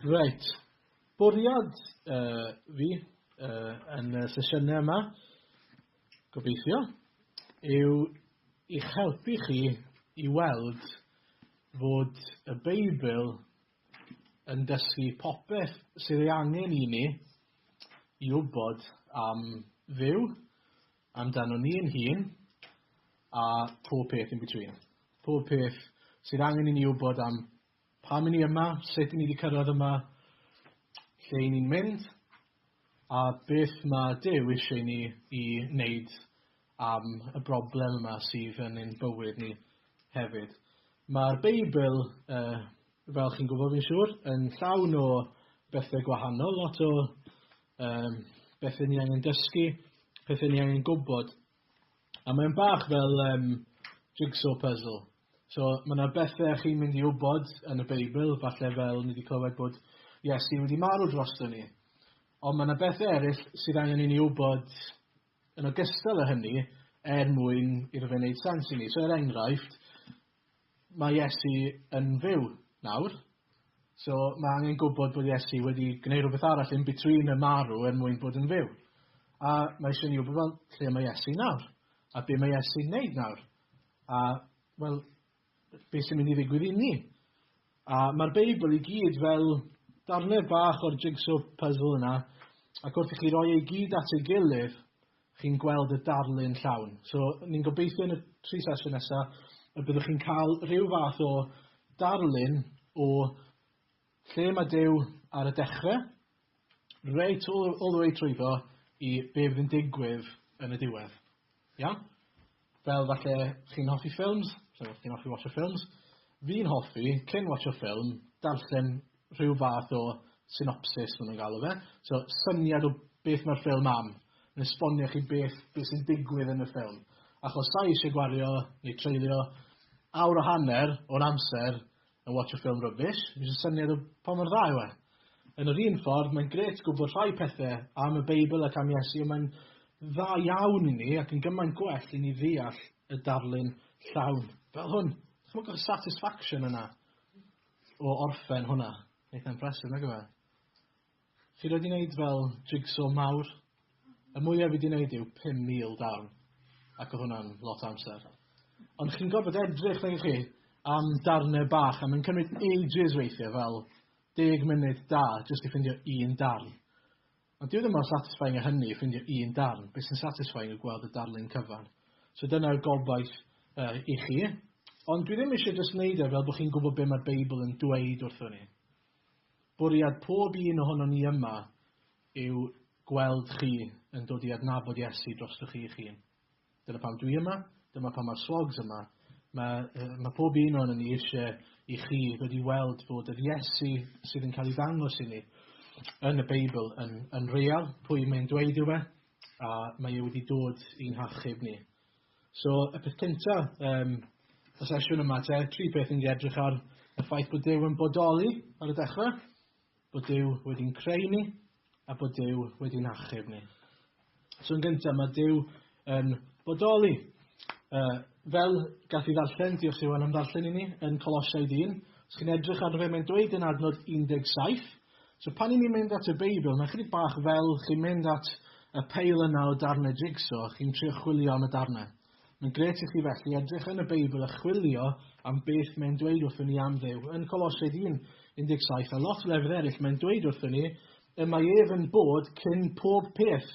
Reit. Bwriad uh, fi uh, yn y sesiynau yma, gobeithio, yw i'ch helpu chi i weld fod y Beibl yn dysgu popeth sydd ei angen i ni i wybod am Dduw, amdano ni'n hun, a pob peth in between. Pob peth sydd angen i ni wybod am pam i ni yma, sut i ni wedi cyrraedd yma, lle i ni'n mynd, a beth mae Duw eisiau ni i wneud am y broblem yma sydd yn ein bywyd ni hefyd. Mae'r Beibl, uh, fel chi'n gwybod fi'n siŵr, yn llawn o bethau gwahanol, lot o um, bethau ni angen dysgu, pethau ni angen gwybod. A mae'n bach fel um, jigsaw puzzle. So mae yna bethau chi'n mynd i wybod yn y Beibl, falle fel ni wedi clywed bod Iesu wedi marw drosto ni. Ond mae yna bethau eraill sydd angen i ni wybod Yn ogystal â hynny, er mwyn iddo fe wneud sens i ni. So er enghraifft, mae Iesu yn fyw nawr, so mae angen gwybod bod Iesu wedi gwneud rhywbeth arall in between y marw er mwyn bod yn fyw. A mae eisiau ni wybod, fel, lle mae Iesu nawr? A be mae Iesu'n wneud nawr? A, wel, beth sy'n mynd i ddigwydd i ni. A mae'r Beibl i gyd fel darnau bach o'r jigsaw puzzle yna, ac wrth i chi roi ei gyd at ei gilydd, chi'n gweld y darlun llawn. So, ni'n gobeithio yn y tri sesiwn nesaf y byddwch chi'n cael rhyw fath o darlun o Lle mae Duw ar y dechre? Reit all the, all the way trwyddo i be fydd yn digwydd yn y diwedd. Iawn? Fel falle chi'n hoffi ffilms, so chi'n hoffi watcho ffilms, fi'n hoffi, cyn watcho ffilm, darllen rhyw fath o synopsis maen nhw'n galw fe. So syniad o beth mae'r ffilm am, yn esbonio chi beth, beth sy'n digwydd yn y ffilm. Achos sa'i eisiau gwario neu treulio awr o hanner o'n amser And watch a film rubbish, fi jyst syniad o pa mor dda yw e. Yn yr un ffordd, mae'n gret gwybod rhai pethe am y Beibl ac am Iesu, ond mae'n dda iawn i ni ac yn gymaint gwell i ni ddeall y darlun llawn. Fel hwn. Chmwg y satisfaction yna o orffen hwnna. Eitha impressive, nag yw e? Fi wedi neud fel jigsaw mawr. Y mwya fi 'di neud yw pum mil darn ac o' hwnna'n lot o amser. Ond chi'n gorfod edrych nag 'ych chi am darne bach a mae'n cymryd ages weithie fel deg munud da jyst i ffindio un darn. Ond dyw e ddim mor satisfying â hynny ffindio un darn, be' sy'n satisfying yw gweld y darlun cyfan. So dyna yw gobaith yy i chi. Ond dwi ddim isie jyst neud e fel bo' chi'n gwbo be' ma'r Beibl yn dweud wrthon ni. Bwriad pob un ohonon ni yma yw gweld chi yn dod i adnabod Iesu drostoch chi eich hun. Dyna pam dwi yma, dyma pam mae'r Swogs yma. Mae, mae pob un ohonon ni eisiau i chi ddod i weld bod yr Iesu sydd yn cael ei ddangos i ni yn y Beibl yn, yn real, pwy mae'n dweud yw e, a mae e wedi dod i'n hachub ni. So, y peth cynta, um, y sesiwn yma te, tri peth yn edrych ar y ffaith bod Dyw yn bodoli ar y dechrau, bod Dyw wedi'n creu ni, a bod Dyw wedi'n achub ni. So, yn gyntaf, mae Dyw yn bodoli. Uh, fel gath i ddarllen, diolch Iwan am ddarllen i ni, yn Colosiaid 1, os chi'n edrych ar fe, mae'n dweud yn adnod 17, So pan i ni'n mynd at y Beibl, mae'n chydig bach fel chi'n mynd at y peil yna o darnau jigsaw a chi'n trio chwilio am y darnau. Mae'n gret i chi felly edrych yn y Beibl a chwilio am beth mae'n dweud wrthyn ni am ddew. Yn Colosiaid 1, 17 a lot o lefydd eraill mae'n dweud wrthyn ni y mae ef yn bod cyn pob peth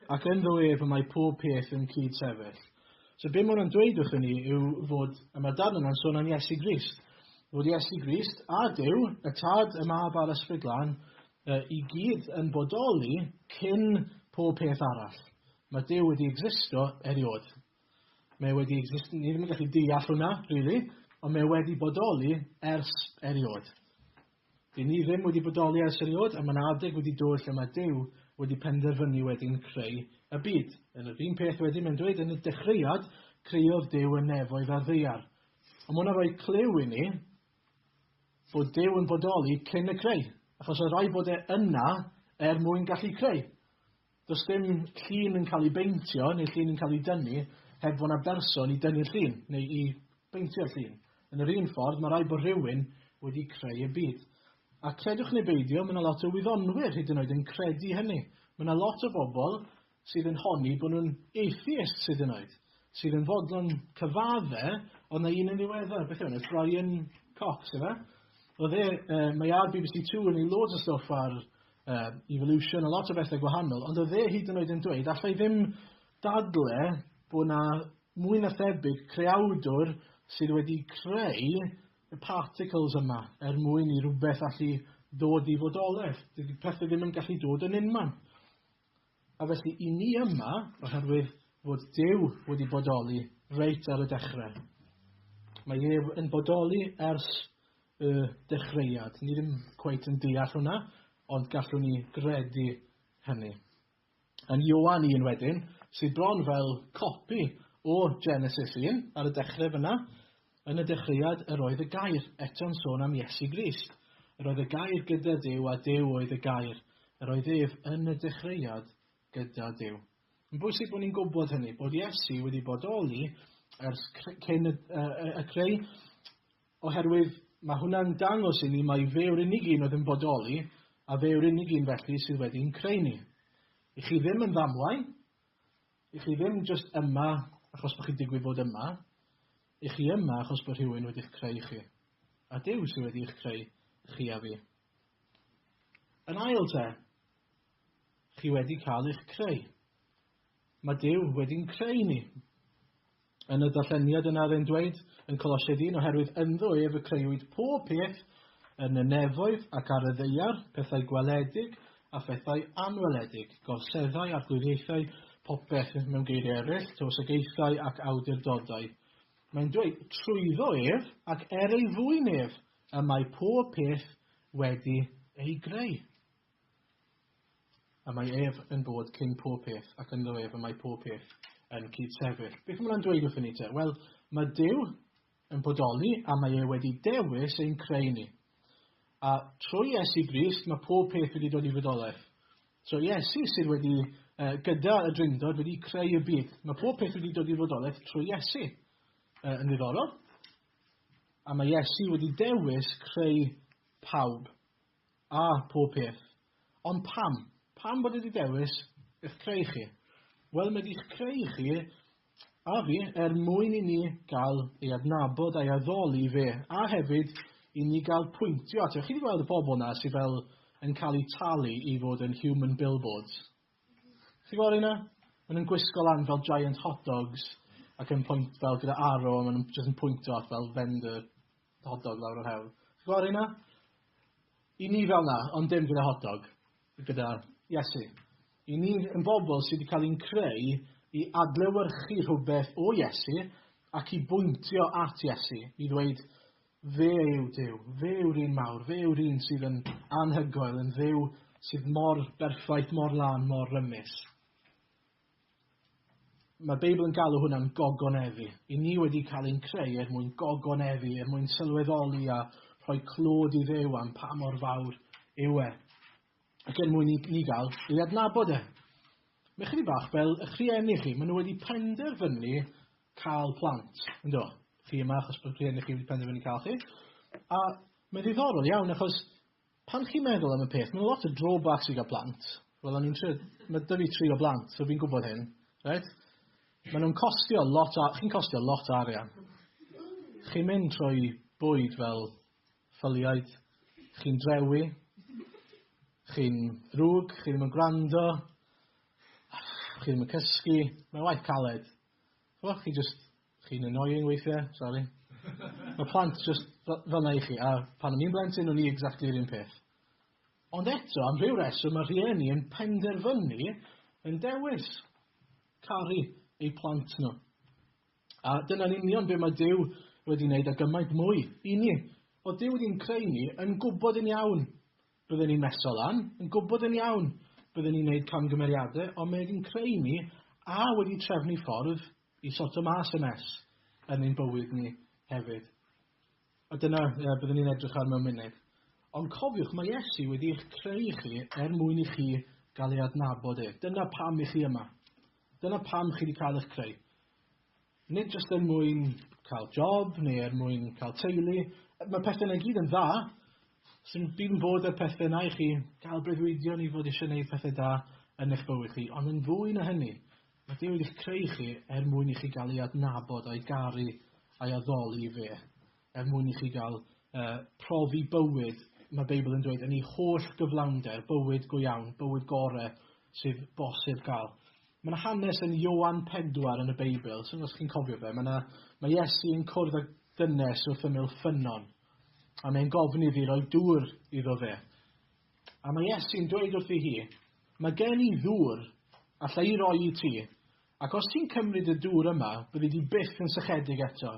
ac ynddo ef y mae pob peth yn cyd sefyll. So be mae hwnna'n dweud wrthyn ni yw fod, y mae'r darn yna'n sôn am Iesu Grist, fod Iesu Grist a Dyw, y Tad, y Mab a'r Ysbryd Glân, uh, i gyd yn bodoli cyn pob peth arall. Mae Dyw wedi existo erioed. Mae wedi existo, ni ddim yn gallu deall hwnna, really, ond mae wedi bodoli ers erioed. Dŷn ni ddim wedi bodoli ers eriôd a mae'n adeg wedi dod lle mae Duw wedi penderfynu wedyn creu y byd. Yn yr un peth wedyn mae'n dweud yn y dechreuad creuodd Duw y nefoedd a'r ddaear. Ond mae hwnna'n rhoi clyw i ni bod Duw yn bodoli cyn y creu, achos oedd rhaid bod e yna er mwyn gallu creu. Does dim llun yn cael ei beintio neu llun yn cael ei dynnu heb fod 'na berson i dynnu'r llun, neu i beintio'r llun. Yn yr un ffordd, mae rhaid bod rhywun wedi creu y byd. A credwch neu beidio, mae 'na lot o wyddonwyr hyd yn oed yn credu hynny. Mae 'na lot o bobl sydd yn honni bod nhw'n atheists hyd yn oed, sydd yn fodlon cyfadde, oedd 'na un yn ddiweddar, beth yw enw e, Brian Cox, ife? Oedd e, uh, mae ar BBC Two yn ei loads o stwff ar uh, evolution, a lot o bethau gwahanol, ond oedd e hyd yn oed yn dweud, allai ddim dadle bod na mwy na thebyg creawdwr sydd wedi creu y particles yma er mwyn i rhywbeth allu dod i fodolaeth. Dydy pethau ddim yn gallu dod yn unman. A felly i ni yma, oherwydd fod Dyw wedi bodoli reit ar y dechrau. Mae ef yn bodoli ers y dechreuad. Ni ddim cweit yn deall hwnna, ond gallwn ni gredu hynny. Yn Ioan 1 wedyn, sydd bron fel copi o Genesis 1 ar y dechrau fyna, yn y dechreuad yr oedd y gair, eto'n sôn am Iesu Grist. Yr oedd y gair gyda Dyw a Dyw oedd y gair. Yr oedd ef yn y dechreuad gyda Dyw. Yn bwysig bod ni'n gwybod hynny, bod Iesu wedi bodoli ers cyn y, y, y creu Oherwydd, mae hwnna'n dangos inni mai fe yw'r unig un oedd yn bodoli, a fe yw'r unig un felly sydd wedi i'n creu ni. I chi ddim yn ddamwain, i chi ddim jyst yma achos bod chi'n digwydd bod yma, i chi yma achos bod rhywun wedi'ch creu chi. A Duw sydd wedi eich creu chi a fi. Yn ail te, chi wedi cael eich creu. Mae Duw wedi'n creu ni. Yn y darlleniad yna ry'n dweud yn Colosiaid un, Oherwydd ynddo ef y creuwyd pob peth, yn y nefoedd ac ar y ddaear, pethau gweledig a phethau anweledig, gorseddau, arglwyddiaethau, popeth, mewn geiriau eraill, tywysogaethau ac awdurdodau. Mae'n dweud, trwyddo ef ac er ei fwyn ef y mae pob peth wedi ei greu. A mae ef yn bod cyn pob peth, ac ynddo ef y mae pob peth yn cyd-sefyll. Beth mae hwnna'n dweud wrthyn ni te? Wel, mae Dyw yn bodoli a mae e wedi dewis ein creu ni. A trwy Iesu Grist mae pob peth wedi dod i fydolaeth. So Iesu sydd wedi, uh, gyda y drindod, wedi creu y byd. Mae pob peth wedi dod i fodolaeth trwy Iesu. Uh, yn ddiddorol. A mae Iesu wedi dewis creu pawb. Ah, pob peth. Ond pam? Pam bod e 'di dewis eich creu chi? Wel, mae 'di'ch creu chi a fi er mwyn i ni gael ei adnabod a'i addoli fe, a hefyd i ni gael pwyntio ato. Chi 'di gweld y pobl 'na sydd fel yn cael eu talu i fod yn human billboards? Chi gweld rheina? Maen nhw'n gwisgo lan fel giant hot dogs ac yn pwynt fel gyda arrow a maen nhw'n jyst yn pwyntio at fel vendor Hot dog lawr yr hewl. Ti'n gweld hynna? I ni fel na, ond dim gyda hot dog. Gyda Iesu. I ni yn bobl sydd wedi cael ein creu i adlewyrchu rhywbeth o Iesu ac i bwyntio at Iesu, i ddweud, fe yw Dyw, fe yw'r un mawr, fe yw'r un sydd yn anhygoel, yn ddew sydd mor berffaith, mor lân, mor rymus. Mae'r Beibl yn galw hwnna'n gogonefu. I ni wedi cael ein creu er mwyn gogonefu, er mwyn sylweddoli a rhoi clod i ddew am pa mor fawr yw e. Ac er mwyn i ni gael ei adnabod e. Mae chydig bach fel eich rhieni chi, maen nhw wedi penderfynu cael plant, yn do? Chi yma achos bod rhieni chi wedi penderfynu cael chi. A mae'n ddiddorol iawn achos Pan chi'n meddwl am y peth, mae'n lot o drawbacks i gael plant. Wel, o'n i'n trio... Mae dy fi tri o blant, so fi'n gwybod hyn. Right? Mae nhw'n costio lot... Chi'n costio lot arian. Chi'n mynd trwy bwyd fel ffyliaid. Chi'n drewi. Chi'n rhwg. Chi ddim yn gwrando. Chi ddim yn cysgu. Mae'n waith caled. Chwa, chi just Chi'n annoying weithiau, sori. Mae plant just fel na i chi, a pan o'n i'n blentyn o'n i exactly yr un peth. Ond eto, am rhyw reswm mae rhieni yn penderfynu yn dewis caru eu plant nhw. A dyna'n union be mae Dyw wedi wneud a gymaint mwy i ni. O Dyw wedi'n creu ni yn gwybod yn iawn bydden ni'n meso lan, yn gwybod yn iawn bydden ni'n gwneud camgymeriadau, ond mae wedi'n creu ni a wedi trefnu ffordd i sorto mas y mess yn ein bywyd ni hefyd. A dyna uh, byddwn ni'n edrych ar mewn munud. Ond cofiwch, mae Iesu wedi eich creu chi er mwyn i chi gael ei adnabod e. Dyna pam i chi yma. Dyna pam chi wedi cael eich creu. Nid jyst er mwyn cael job neu er mwyn cael teulu. Mae pethau yna gyd yn dda. Sy'n byd yn bod ar pethau yna i chi gael breuddwydion i fod eisiau gwneud pethau da yn eich bywyd chi. Ond yn fwy na hynny, Mae Duw wedi'ch creu chi er mwyn i chi gael ei adnabod, a'i garu, a'i addoli fe, er mwyn i chi gael uh, profi bywyd, mae Beibl yn dweud, yn ei holl gyflawnder, bywyd go iawn, bywyd gore sydd bosib gael. Mae yna hanes yn Iowan 4 yn y Beibl, sy'n os chi'n cofio fe, mae, yna, mae Iesu yn cwrdd â dynes wrth ymyl ffynnon, a mae'n gofyn iddi roi dŵr iddo fe. A mae Iesu'n dweud wrthi hi, Mae gen i ddŵr, alla i roi i ti, ac os ti'n cymryd y dŵr yma, byddi di byth yn sychedig eto.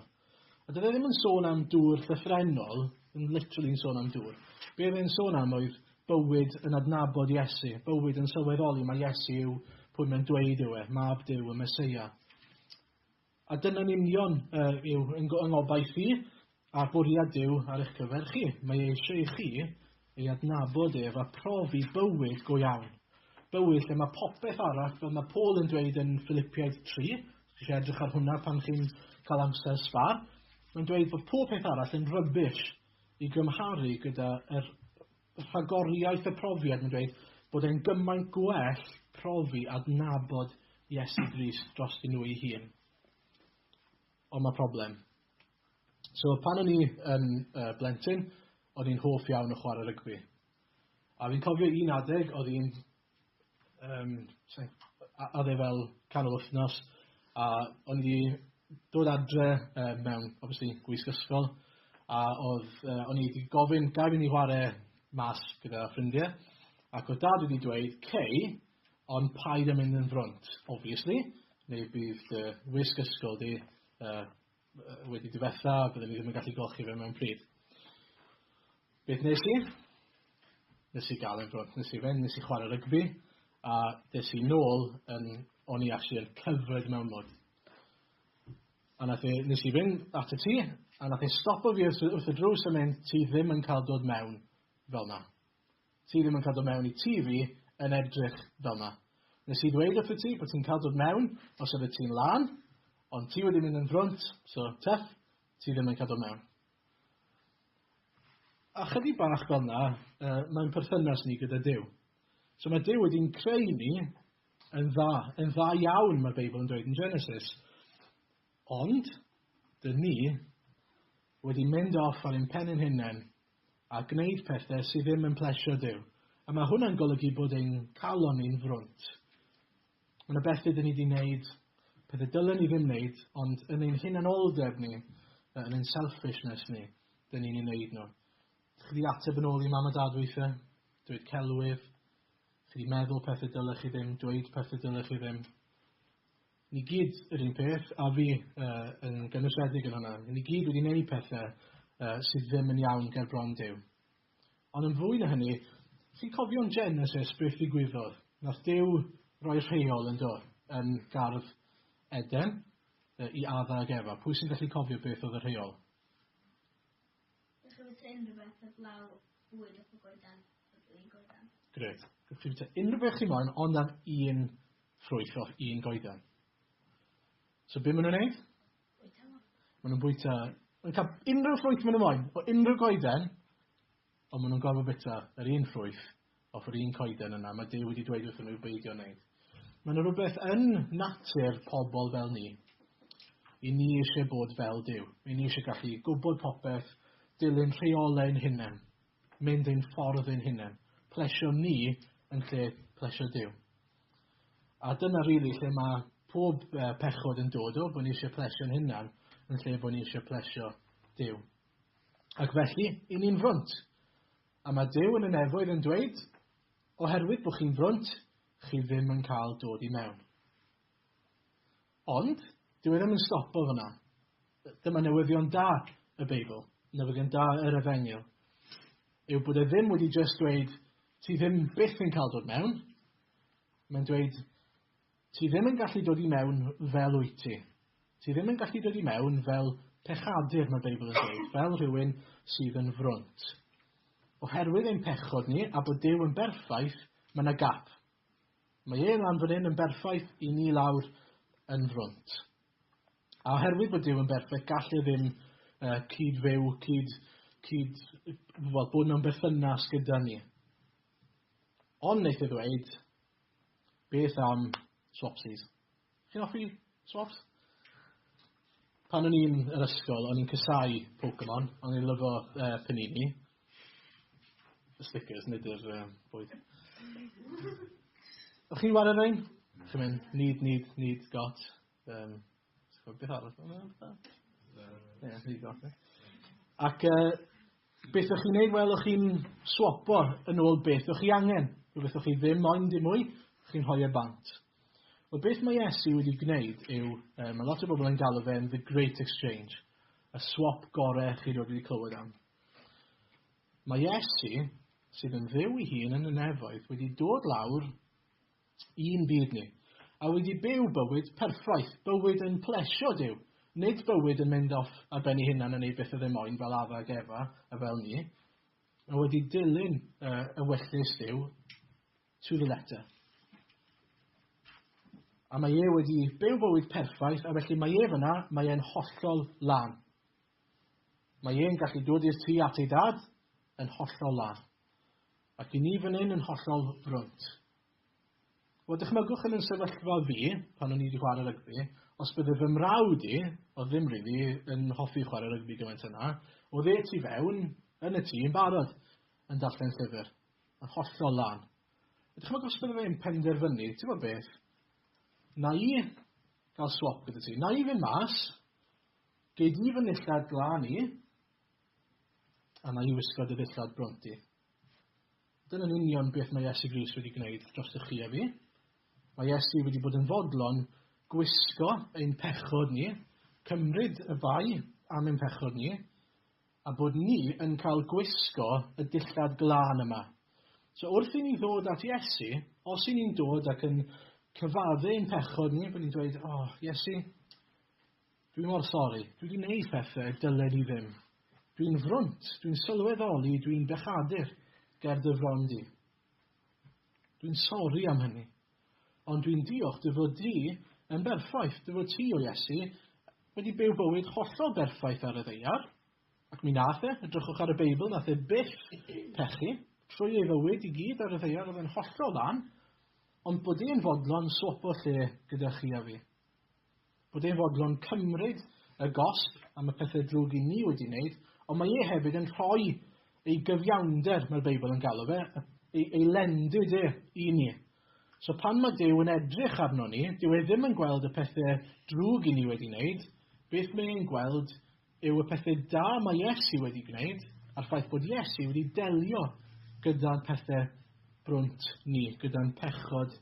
A doedd e ddim yn sôn am dŵr llythrennol, yn literally yn sôn am dŵr. Be oedd e'n sôn am oedd bywyd yn adnabod Iesu, bywyd yn sylweddoli mae Iesu yw pwy mae'n dweud yw e, mab Duw y Mesoea. A dyna'n union yw fy ngobaith i, a'r bwriad Duw ar eich cyfer chi. Mae e eisiau i chi ei adnabod ef a profi bywyd go iawn. Bywyd lle mae popeth arall, fel mae Paul yn dweud yn Ffilipiaid 3, os chi eisiau edrych ar hwnna pan chi'n cael amser sbâr, mae'n dweud bod pob peth arall yn rubbish i gymharu gyda yr rhagoriaeth y profiad yn dweud bod e'n gymaint gwell profi adnabod Iesu Grist drostyn nhw ei hun. Ond mae problem. So pan o'n i yn uh, blentyn, o'n i'n hoff iawn o chwarae rygbi. A fi'n cofio un adeg, oedd hi'n um, oedd e fel canol wythnos, a o'n i dod adre uh, mewn, obviously, gwisg ysgol, a oedd, uh, o'n i wedi gofyn, gael fi ni chwarae mas gyda ffrindiau, ac oedd dad wedi dweud, cei, ond paid yn mynd yn frwnt, obviously, neu bydd dy wisg ysgol di uh, wedi diwetha, byddwn i ddim yn gallu golchi fe mewn pryd. Beth nes i? Nes i gael e'n nes i fynd, nes i chwarae rygbi, a des i nôl yn, o'n i actually yn cyfred mewn mod. A nath e, nes i fynd at y tŷ, a nath e stopo fi wrth y drws a mynd, ti ddim yn cael dod mewn fel na. Ti ddim yn cael dod mewn i tŷ fi yn edrych fel 'na. Nes i ddweud wrthyt ti bod ti'n cael dod mewn os oeddet ti'n lân, ond ti wedi mynd yn frwnt, so Teff, ti ddim yn cael dod mewn. A chydig bach fel 'na yy mae'n perthynas ni gyda Duw. So mae Duw wedi'n creu ni yn dda, yn dda iawn mae'r Beibl yn dweud yn Genesis. Ond, dyn ni wedi mynd off ar ein pen ein hunain a gwneud pethau sydd ddim yn plesio Duw, a mae hwnna'n golygu bod ein calon ni'n frwnt. Mae yna bethau dyn ni wedi wneud, pethau dylen ni ddim wneud, ond yn ein hunanoldeb ni, yn ein selfishness ni, dyn ni'n ei wneud nhw. Chi wedi ateb yn ôl i mam a dad weithiau, dweud celwydd, chi wedi meddwl pethau dylech chi ddim, dweud pethau dylech chi ddim. Ni gyd yr un peth, a fi uh, yn gynwysiedig yn hwnna. Ni gyd wedi gwneud pethau uh, sydd ddim yn iawn ger bron Dyw. Ond yn fwy na hynny, chi'n cofio'n Genesis beth ddigwyddodd? Nath Dyw roi rheol yn do, yn gardd Eden, uh, i Adda ag Efa. Pwy sy'n gallu cofio beth oedd y rheol? Gewch chi fwyta unrhyw beth heblaw bwyd a pho goedan, heb un goedan. Grêt. Gewch chi fwyta unrhyw beth chi moyn ond am un ffrwyth fel un goedan. So be maen nhw'n neud? Bwyta nhw. Maen nhw'n bwyta... Maen cael unrhyw ffrwyth maen nhw moyn, o unrhyw goeden, ond maen nhw'n gorfod bwyta yr un ffrwyth Off yr un coeden yna, mae Duw wedi dweud wrthyn nhw i'w beidio wneud. Mae yna rhywbeth yn natur pobl fel ni. I ni eisiau bod fel Duw. I ni eisiau gallu gwybod popeth, dilyn rheolau yn hunain, mynd ein ffordd yn hunain, plesio ni yn lle plesio Duw. A dyna rili really lle mae pob uh, pechod yn dod o, bod ni eisiau plesio'n hunan yn lle bod ni eisiau plesio Dyw. Ac felly, i ni'n frwnt, A mae Duw yn y nefoedd yn dweud, Oherwydd bod chi'n frwnt, chi ddim yn cael dod i mewn. Ond, dyw e ddim yn stopo fyna. Dyma newyddion da y Beibl, newyddion da yr efengyl, yw bod e ddim wedi just dweud, ti ddim byth yn cael dod mewn, mae'n dweud, Ti ddim yn gallu dod i mewn fel wyt ti. Ti ddim yn gallu dod i mewn fel pechadur, mae'r Beibl yn dweud, fel rhywun sydd yn frwnt. Oherwydd ein pechod ni, a bod Duw yn berffaith, mae yna gap. Mae e lan fan hyn yn berffaith i ni lawr yn frwnt. A oherwydd bod Duw yn berffaith, gall e ddim uh, cyd-fyw, cyd, cyd, well, bod mewn berthynas gyda ni. Ond wneud e ddweud, Beth am swapsies? Chi'n offi swaps? Pan o'n i'n yr ysgol, o'n i'n cysau Pokemon, o'n i'n lyfo uh, Panini. Y stickers, nid yr uh, bwyd. O'ch chi'n wario rhain? Chi'n mynd, need, need, need, got. Um, Ti'n gwybod beth arall mae'n meddwl? Ac uh, beth o'ch chi'n neud? Wel, o'ch chi'n swapo yn ôl beth o'ch chi angen. Rhywbeth o'ch chi ddim moyn dim mwy, o'ch chi'n rhoi e bant. Wel, beth mae Iesu wedi gwneud yw, uh, mae lot o bobl yn galw fe'n The Great Exchange, y swap gorau chi roed wedi clywed am. Mae Iesu, sydd yn ddew i hun yn y nefoedd, wedi dod lawr I'n byd ni. A wedi byw bywyd perffaith, bywyd yn plesio Duw, nid bywyd yn mynd off ar ben ei hunan yn ei byth a ddim moyn fel Adda ac Efa a fel ni, a wedi dilyn yr ewyllys Duw to the letter. A mae e wedi byw bywyd perffaith, a felly mae e fyna, mae e'n hollol lan. Mae e'n gallu dod i'r tu at ei dad yn hollol lan. Ac i ni fan hyn yn hollol frwnt. Wel, dychmygwch yn yn sefyllfa fi, pan o'n i wedi chwarae rygbi, os bydde fy mrawd i, oedd ddim rili yn hoffi chwarae rygbi gymaint yna, oedd e tu fewn, yn y tŷ, yn barod, yn darllen llyfr, yn hollol lan. A dychmygwch os bydde fe'n penderfynu, ti'n gwybod beth, na i gael swap gyda ti, na i fynd mas, gei di fy nillad glan i, A na i wisgo dy ddillad bronti. Dyna'n union beth mae Iesu Gris wedi gwneud dros y chi a fi. Mae Iesu wedi bod yn fodlon gwisgo ein pechod ni, cymryd y bai am ein pechod ni, a bod ni yn cael gwisgo y dillad glân yma. So wrth i ni ddod at Iesu, os i ni'n dod ac yn cyfaddu ein pechod ni, bod ni'n dweud, o, oh, Iesu, Dwi mor sori, dwi 'di neud pethe y dylen i ddim. Dwi'n frwnt, dwi'n sylweddoli dwi'n bechadur ger dy fron di. Dwi'n sori am hynny. Ond dwi'n diolch dy fod di yn berffaith, dy fod ti, o Iesu, wedi byw bywyd hollol berffaith ar y ddeiar. Ac mi nath e, edrychwch ar y Beibl, nath e byth pechu. Trwy ei fywyd i gyd ar y ddeiar oedd e'n hollol ddan, ond bod e'n fodlon swopo lle gyda chi a fi. bod e'n fodlon cymryd y gosb am y pethau drwg i ni wedi wneud, ond mae e hefyd yn rhoi ei gyfiawnder, mae'r Beibl yn galw fe, ei, ei lendid e i ni. So pan mae Dyw yn edrych arno ni, dyw e ddim yn gweld y pethau drwg i ni wedi wneud, beth mae e'n gweld yw y pethau da mae Iesu wedi gwneud a'r ffaith bod Iesu wedi delio gyda'n pethau brwnt ni, gyda'n pechod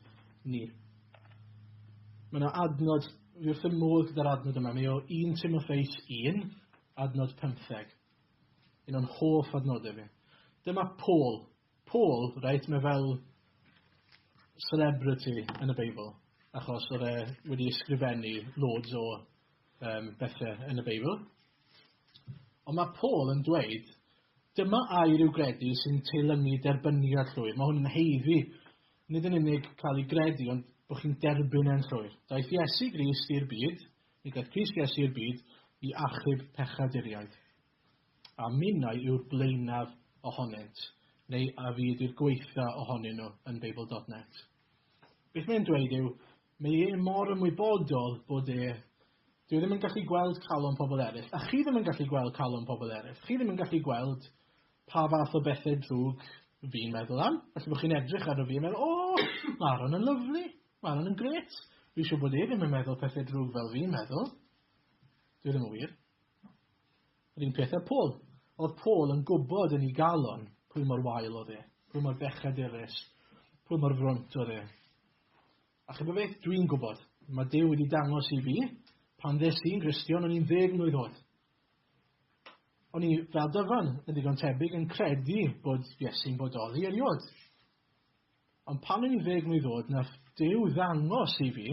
ni. Mae yna adnod, fi wrth y modd gyda'r adnod yma, mae o 1 Timotheus 1, adnod 15. Un o'n hoff adnodau fi. Dyma Paul. Paul, reit, mae fel celebrity yn y Beibl, achos oedd e wedi ysgrifennu loads o um, bethau yn y Beibl. Ond mae Paul yn dweud, dyma air yw gredu sy'n teilyngu derbyniad llwyr. Mae hwn yn heiddi, nid yn unig cael ei gredu, ond bod chi'n derbyn e'n llwyr. Daeth Iesu Grist i'r byd, nid daeth Grist Iesu i'r byd, i achub pechaduriaid. A minnau yw'r blaenaf ohonynt, neu a fyd i'r gweitha ohonyn nhw yn Beibl.net. Beth mae'n dweud yw, Mae e mor ymwybodol bod e... Dyw e ddim yn gallu gweld calon pobl eraill, a chi ddim yn gallu gweld calon pobl eraill. Chi ddim yn gallu gweld pa fath o bethau drwg fi'n meddwl am. Falle bod chi'n edrych arno fi a meddwl, 'O! Mae Aaron yn lyfli. Mae Aaron yn grêt. Fi'n siŵr bod e ddim yn meddwl pethau drwg fel fi'n meddwl. Dyw e ddim yn wir. Yr un peth â Paul. Oedd Paul yn gwybod yn ei galon pwy mor wael oedd e, pwy mor bechadurus, pwy mor frwnt oedd e. A chyda beth, dwi'n gwybod, mae Dyw wedi dangos i fi, pan ddes i'n Gristion, o'n i'n ddeg mlwydd oed. O'n i fel dyfan yn ddigon tebyg yn credu bod Iesu'n bodoli erioed. Ond pan o'n i'n ddeg mlwydd oed, na Dyw ddangos i fi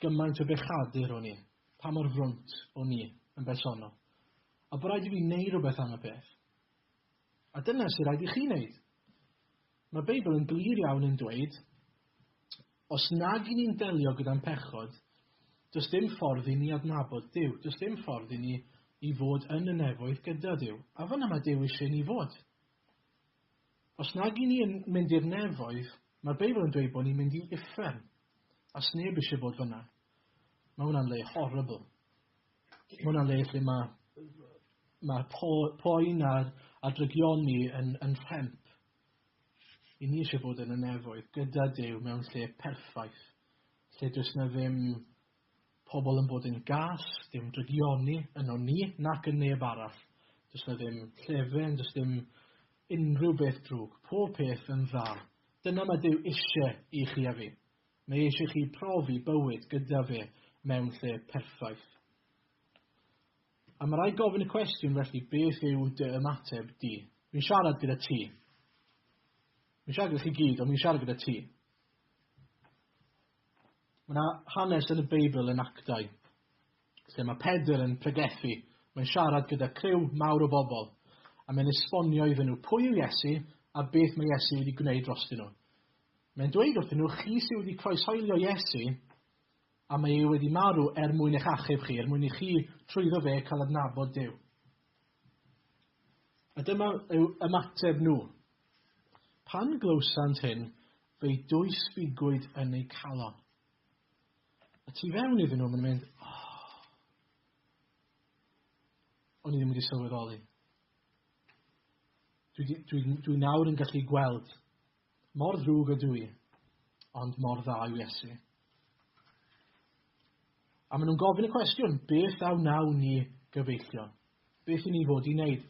Gymaint o bechadur o'n i, pa mor frwnt o'n i yn bersonol. A bod rhaid i fi wneud rhywbeth am y peth. A dyna sy'n rhaid i chi wneud. Mae Beibl yn glir iawn yn dweud, os nag i ni'n delio gyda'n pechod, does dim ffordd i ni adnabod Dyw, does dim ffordd i ni i fod yn y nefoedd gyda Dyw. A fyna mae Dyw eisiau ni fod. Os nag i ni yn mynd i'r nefoedd, mae'r Beibl yn dweud bod ni'n mynd i uffern, a sneb eisiau bod fyna. Mae hwnna'n le horrible. Mae hwnna'n le lle mae, mae po, poen a'r, a drygioni yn, yn rhemp. I ni eisiau bod yn y nefoedd gyda Dyw mewn lle perffaith, lle does na ddim Pobl yn bod yn gas, dim drygioni yno ni nac yn neb arall. Does na ddim llefen, does dim unrhyw beth drwg, pob peth yn dda. Dyna mae Duw isie i chi a fi. Mae eisiau chi profi bywyd gyda fe mewn lle perffaith. A mae rai gofyn y cwestiwn felly beth yw dy ymateb di? Mi'n siarad gyda ti. Mi'n siarad gyda chi gyd, ond mi'n siarad gyda ti. Mae yna hanes yn y Beibl yn Actau lle mae Pedr yn pregethu, mae'n siarad gyda criw mawr o bobl a mae'n esbonio iddyn nhw pwy yw Iesu a beth mae Iesu wedi gwneud drostyn nhw. Mae'n dweud wrthyn nhw, chi sydd wedi croeshoelio Iesu a mae ei wedi marw er mwyn eich achub chi, er mwyn i chi trwyddo fe cael adnabod Dyw. A dyma yw ymateb nhw. Pan glywsant hyn, fe'i dwysbigwyd yn eu calon. A tu fewn iddyn nhw, mae'n mynd, oh, o'n i ddim wedi sylweddoli. Dwi, dwi, dwi nawr yn gallu gweld Mor ddrwg ydw i, ond mor dda yw Iesu. A maen nhw'n gofyn y cwestiwn, beth a wnawn ni gyfeillio? Beth i ni fod i wneud?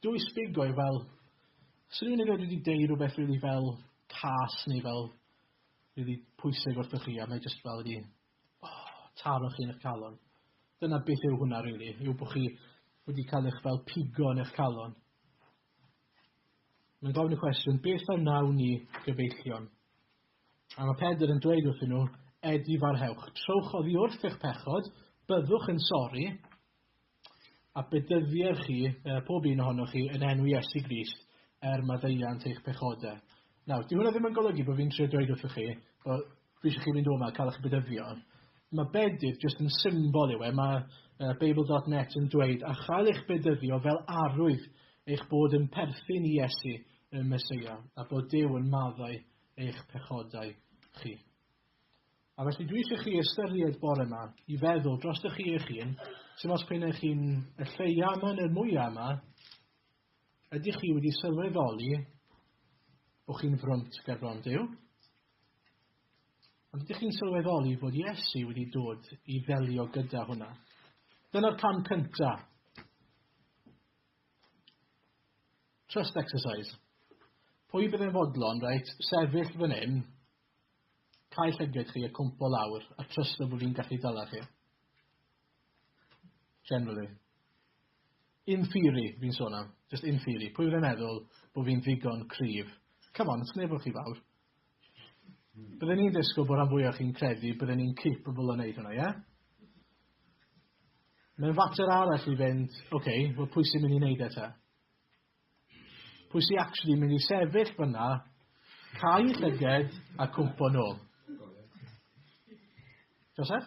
Dw i sbigo'i fel, os rhywun yn wedi deud rhywbeth rili really fel cas neu fel rili really pwysig wrthych chi, a mae jyst fel wedi oh, taro chi'n eich calon. Dyna beth yw hwnna rili, really, yw bod chi wedi cael eich fel pigo yn eich calon. Mae'n gofyn y cwestiwn, beth a wnawn ni gyfeillion? A mae Pedr yn dweud wrthyn nhw, Edi farhewch, trowch oddi wrth eich pechod, byddwch yn sori, a bedyddier chi, pob un ohonoch chi, yn enw Iesu Grist, er maddeuant eich pechodau. Nawr, dyw hwnna ddim yn golygu bod fi'n trio dweud wrthoch chi bod fi eisiau chi fynd o'ma a cael eich bedyddio. Mae bedydd jyst yn symbol yw e. Mae uh, Babel.net yn dweud, a chael eich bedyddio fel arwydd eich bod yn perthyn i Iesu y Mesoea, a bod Dyw yn maddau eich pechodau chi. A felly dwi eisiau chi ystyried bore yma i feddwl dros ych chi eich hun, sy'n os pyn eich hun y lleia yma neu'r mwyaf yma, Ydych chi wedi sylweddoli bod chi'n frwnt ger bron Duw? Ond ydych chi'n sylweddoli bod Iesu wedi dod i ddelio gyda hwnna? Dyna'r cam cynta. Trust exercise. Pwy bydd yn fodlon, reit, sefyll fan hyn, cael llyged chi a cwmpo lawr, a trust bod fi'n gallu dala chi? Generally. In theory, fi'n sôn am. Just in theory. Pwy wedi'n meddwl bod fi'n ddigon cryf? Come on, it's neb o'ch chi fawr. Hmm. Byddwn ni'n disgwyl bod rhan fwyaf chi'n credu byddwn ni'n capable o wneud hwnna, ie? Yeah? Mae'n fater arall i fynd, oce, okay, wel pwy sy'n mynd i wneud eto? Pwy sy'n actually mynd i sefyll fyna, cael llyged a cwmpo nôl? Joseph?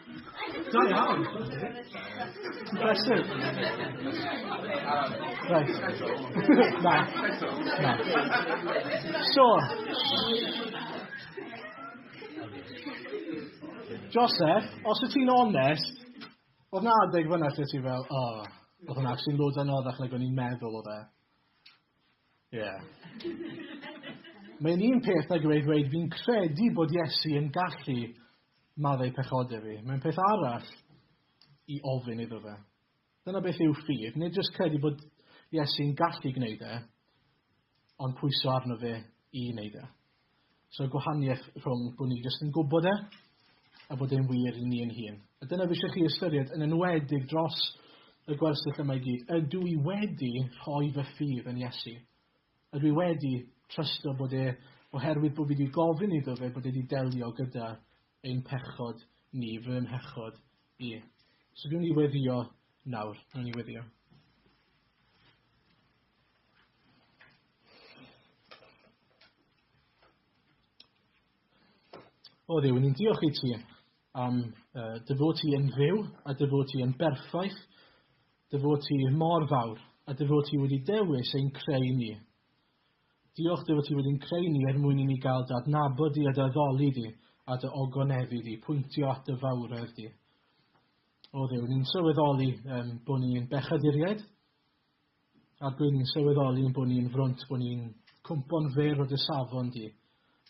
Da iawn. Impressive. Right. Na. Na. So. Joseph, os wyt ti'n onest, oedd na adeg fyna lle ti fel, oh, oedd hwnna actually'n loads anoddach nag o'n i'n meddwl oedd e. Ie. Mae'n un peth nag yw e i ddweud fi'n credu bod Iesu yn gallu maddau pechodau fi. Mae'n peth arall i ofyn iddo fe. Dyna beth yw ffydd. Nid jyst credu bod Iesu'n gallu gwneud e, ond pwyso arno fe i wneud e. So gwahaniaeth rhwng bod ni jyst yn gwybod e a bod e'n wir i ni yn hun. A dyna fi eisiau chi ystyried, yn enwedig dros y gwersyll yma i gyd. Ydw i wedi rhoi fy ffydd yn Iesu? Ydw i wedi trysto bod e, oherwydd bod fi wedi gofyn iddo fe, bod e wedi delio gyda ein pechod ni, fy mhechod i? So dwi'n i weddio nawr, dwi'n i weddio. O Dduw, ni'n diolch i ti am uh, dy fod ti yn fyw a dy fod ti yn berffaith, dy fod ti mor fawr a dy fod ti wedi dewis ein creu ni. Diolch dy fod ti wedi'n creu ni er mwyn i ni gael dy adnabod di a dy addoli di a dy ogonefu di, pwyntio at dy fawredd di. O ddew, ni'n sylweddoli um, bod ni'n bechaduriaid, ac rwy'n i'n sylweddoli ein bod ni'n frwnt bod ni'n cwmpo'n fyr o dy safon di,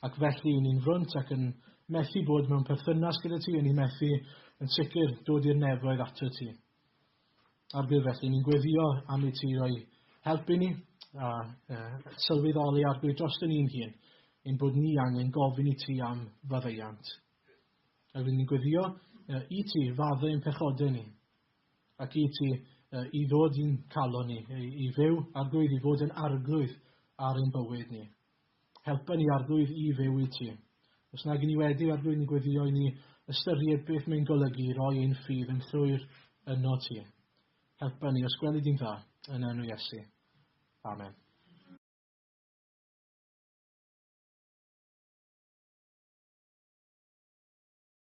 ac felly ni'n frwnt ac yn methu bod mewn perthynas gyda ti a ni'n methu, yn sicr, dod i'r nefoedd ato ti. Ar byr felly, ni'n gweddio am i ti roi help i ni a uh, sylweddoli ar gwyd dros ni'n hun, ein bod ni angen gofyn i ti am faddeiant. A rwy'n ni'n gweddio uh, i ti faddau yn pechodau ni, Ac i ti, i ddod i'n calon ni, i fyw, Arglwydd, i fod yn arglwydd ar ein bywyd ni. Helpa ni, Arglwydd, i fyw i ti. Os nag i ni wedi, Arglwydd, ni gweddio i ni ystyried beth mae'n golygu i roi ein ffydd yn llwyr yno ti. Helpa ni, os gwelid i'n dda, yn enw Iesu. Amen.